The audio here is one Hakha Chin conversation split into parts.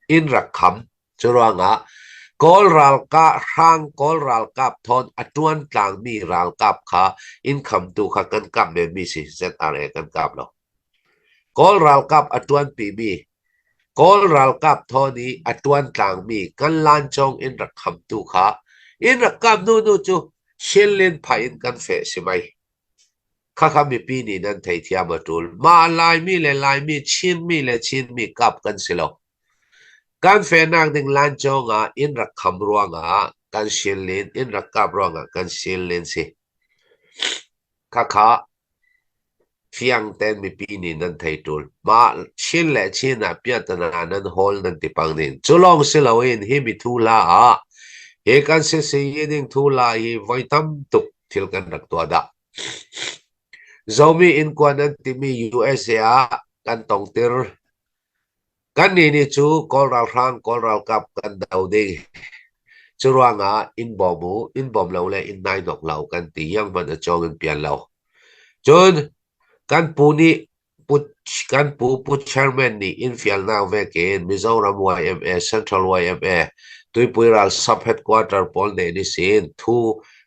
Inn rak kham. Curuangah Kawl ralkap, hrang Kawl ralkap thawn a ṭuan tlangmi ralkap kha inn khamtu kha kan kamh menmi si ZRA kan kam lo. Kawl ralkap a ṭuanpimi, Kawl ralkap thawn i a ṭuan tlangmi kan lancong inn rak khamtu kha inn rak kamh hnuhnu cu Shin Lin phai in kan feh si mei? Khakha mipi nih nan theithiam a ṭul. Mah Laimi le Laimi, Chinmi le Chinmi kap kan si lo. Kan fehnak ding lancawng ah inn rak kham ruangah kan silin, inn rak kap ruangah kan silin si. Khakha fiangten mipi nih nan thei ṭul. Mah Chin le Chin ah piahtana nan hawl nan ti pang ding. Cu lawng si loin hi mi thula ah hi kan si sii ding thula hi voi tam tuk thil kan rak tuah dah. Zomi innkuan an timi USA ah kan tongtir. Kannih nih cu Kawl ralhrang, Kawl ralkap kan do ding. Cu ruangah in bawm u, in bawm lo le in nai nok lo kan ti. Yang man a cawng in pian lo. Cun kan pu nih Kan pu Pu Chairman nih innfialnak vek in Mizoram YMA, Central YMA, Tuipui ralsap headquarter pawl nih an i sin thu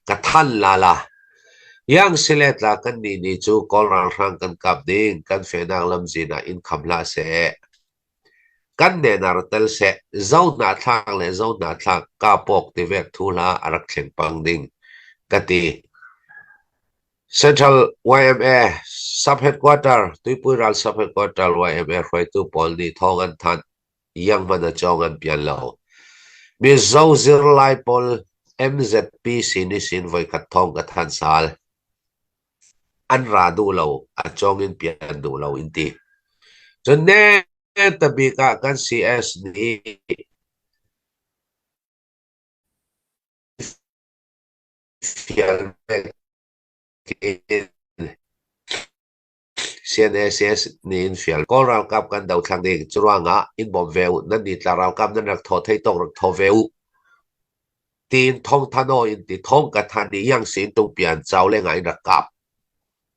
ka thanh lala. Iang siletla kannih nih cu Kawl ralhrang kan kap ding kan fehnak lamzin ah in kham hlah seh. Kan nenar tel seh zo hna thlak le zo hna thlak kapawk tivek thu hla a rak thleng pang ding ka ti. Central YMA sub-headquarter Tuipui ral sub-headquarter YMA hruaitu pawl nih thawng an thanh. Iang-man a cawng an pial lo. Mizo zirlai pawl MZP sin i sin voikhat thawng ka thanh sal. An ra duh lo, a cawng in pian duh lo in ti. Cun ne tabik ah kan CS nih Fialmen tein CNSS nih in fial. Kawl ralkap kan dothlang ding curuangah in bawm ve u. Nan nitla ralkap nan rak thaw thei tawk rak thaw ve u. Tiin thong thano in ti thong ka than i yang sin tung pian chau lengah in rak kap.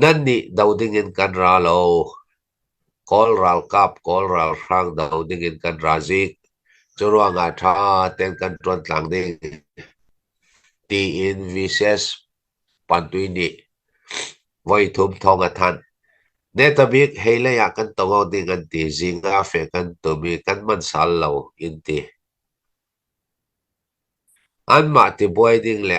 Nan nih do dingin kan ra lo. Kawl ralkap Kawl ralhrang do dingin kan ra zik. Curuangah ṭha tein kan ṭuan tlang ding, tiin VCS pantui nih voithum thawng a thanh. Netabik hei lei ah kan tongo ding an ti. Zinga fe kan tum i kan man sal lo in ti. Anmah tibuai ding le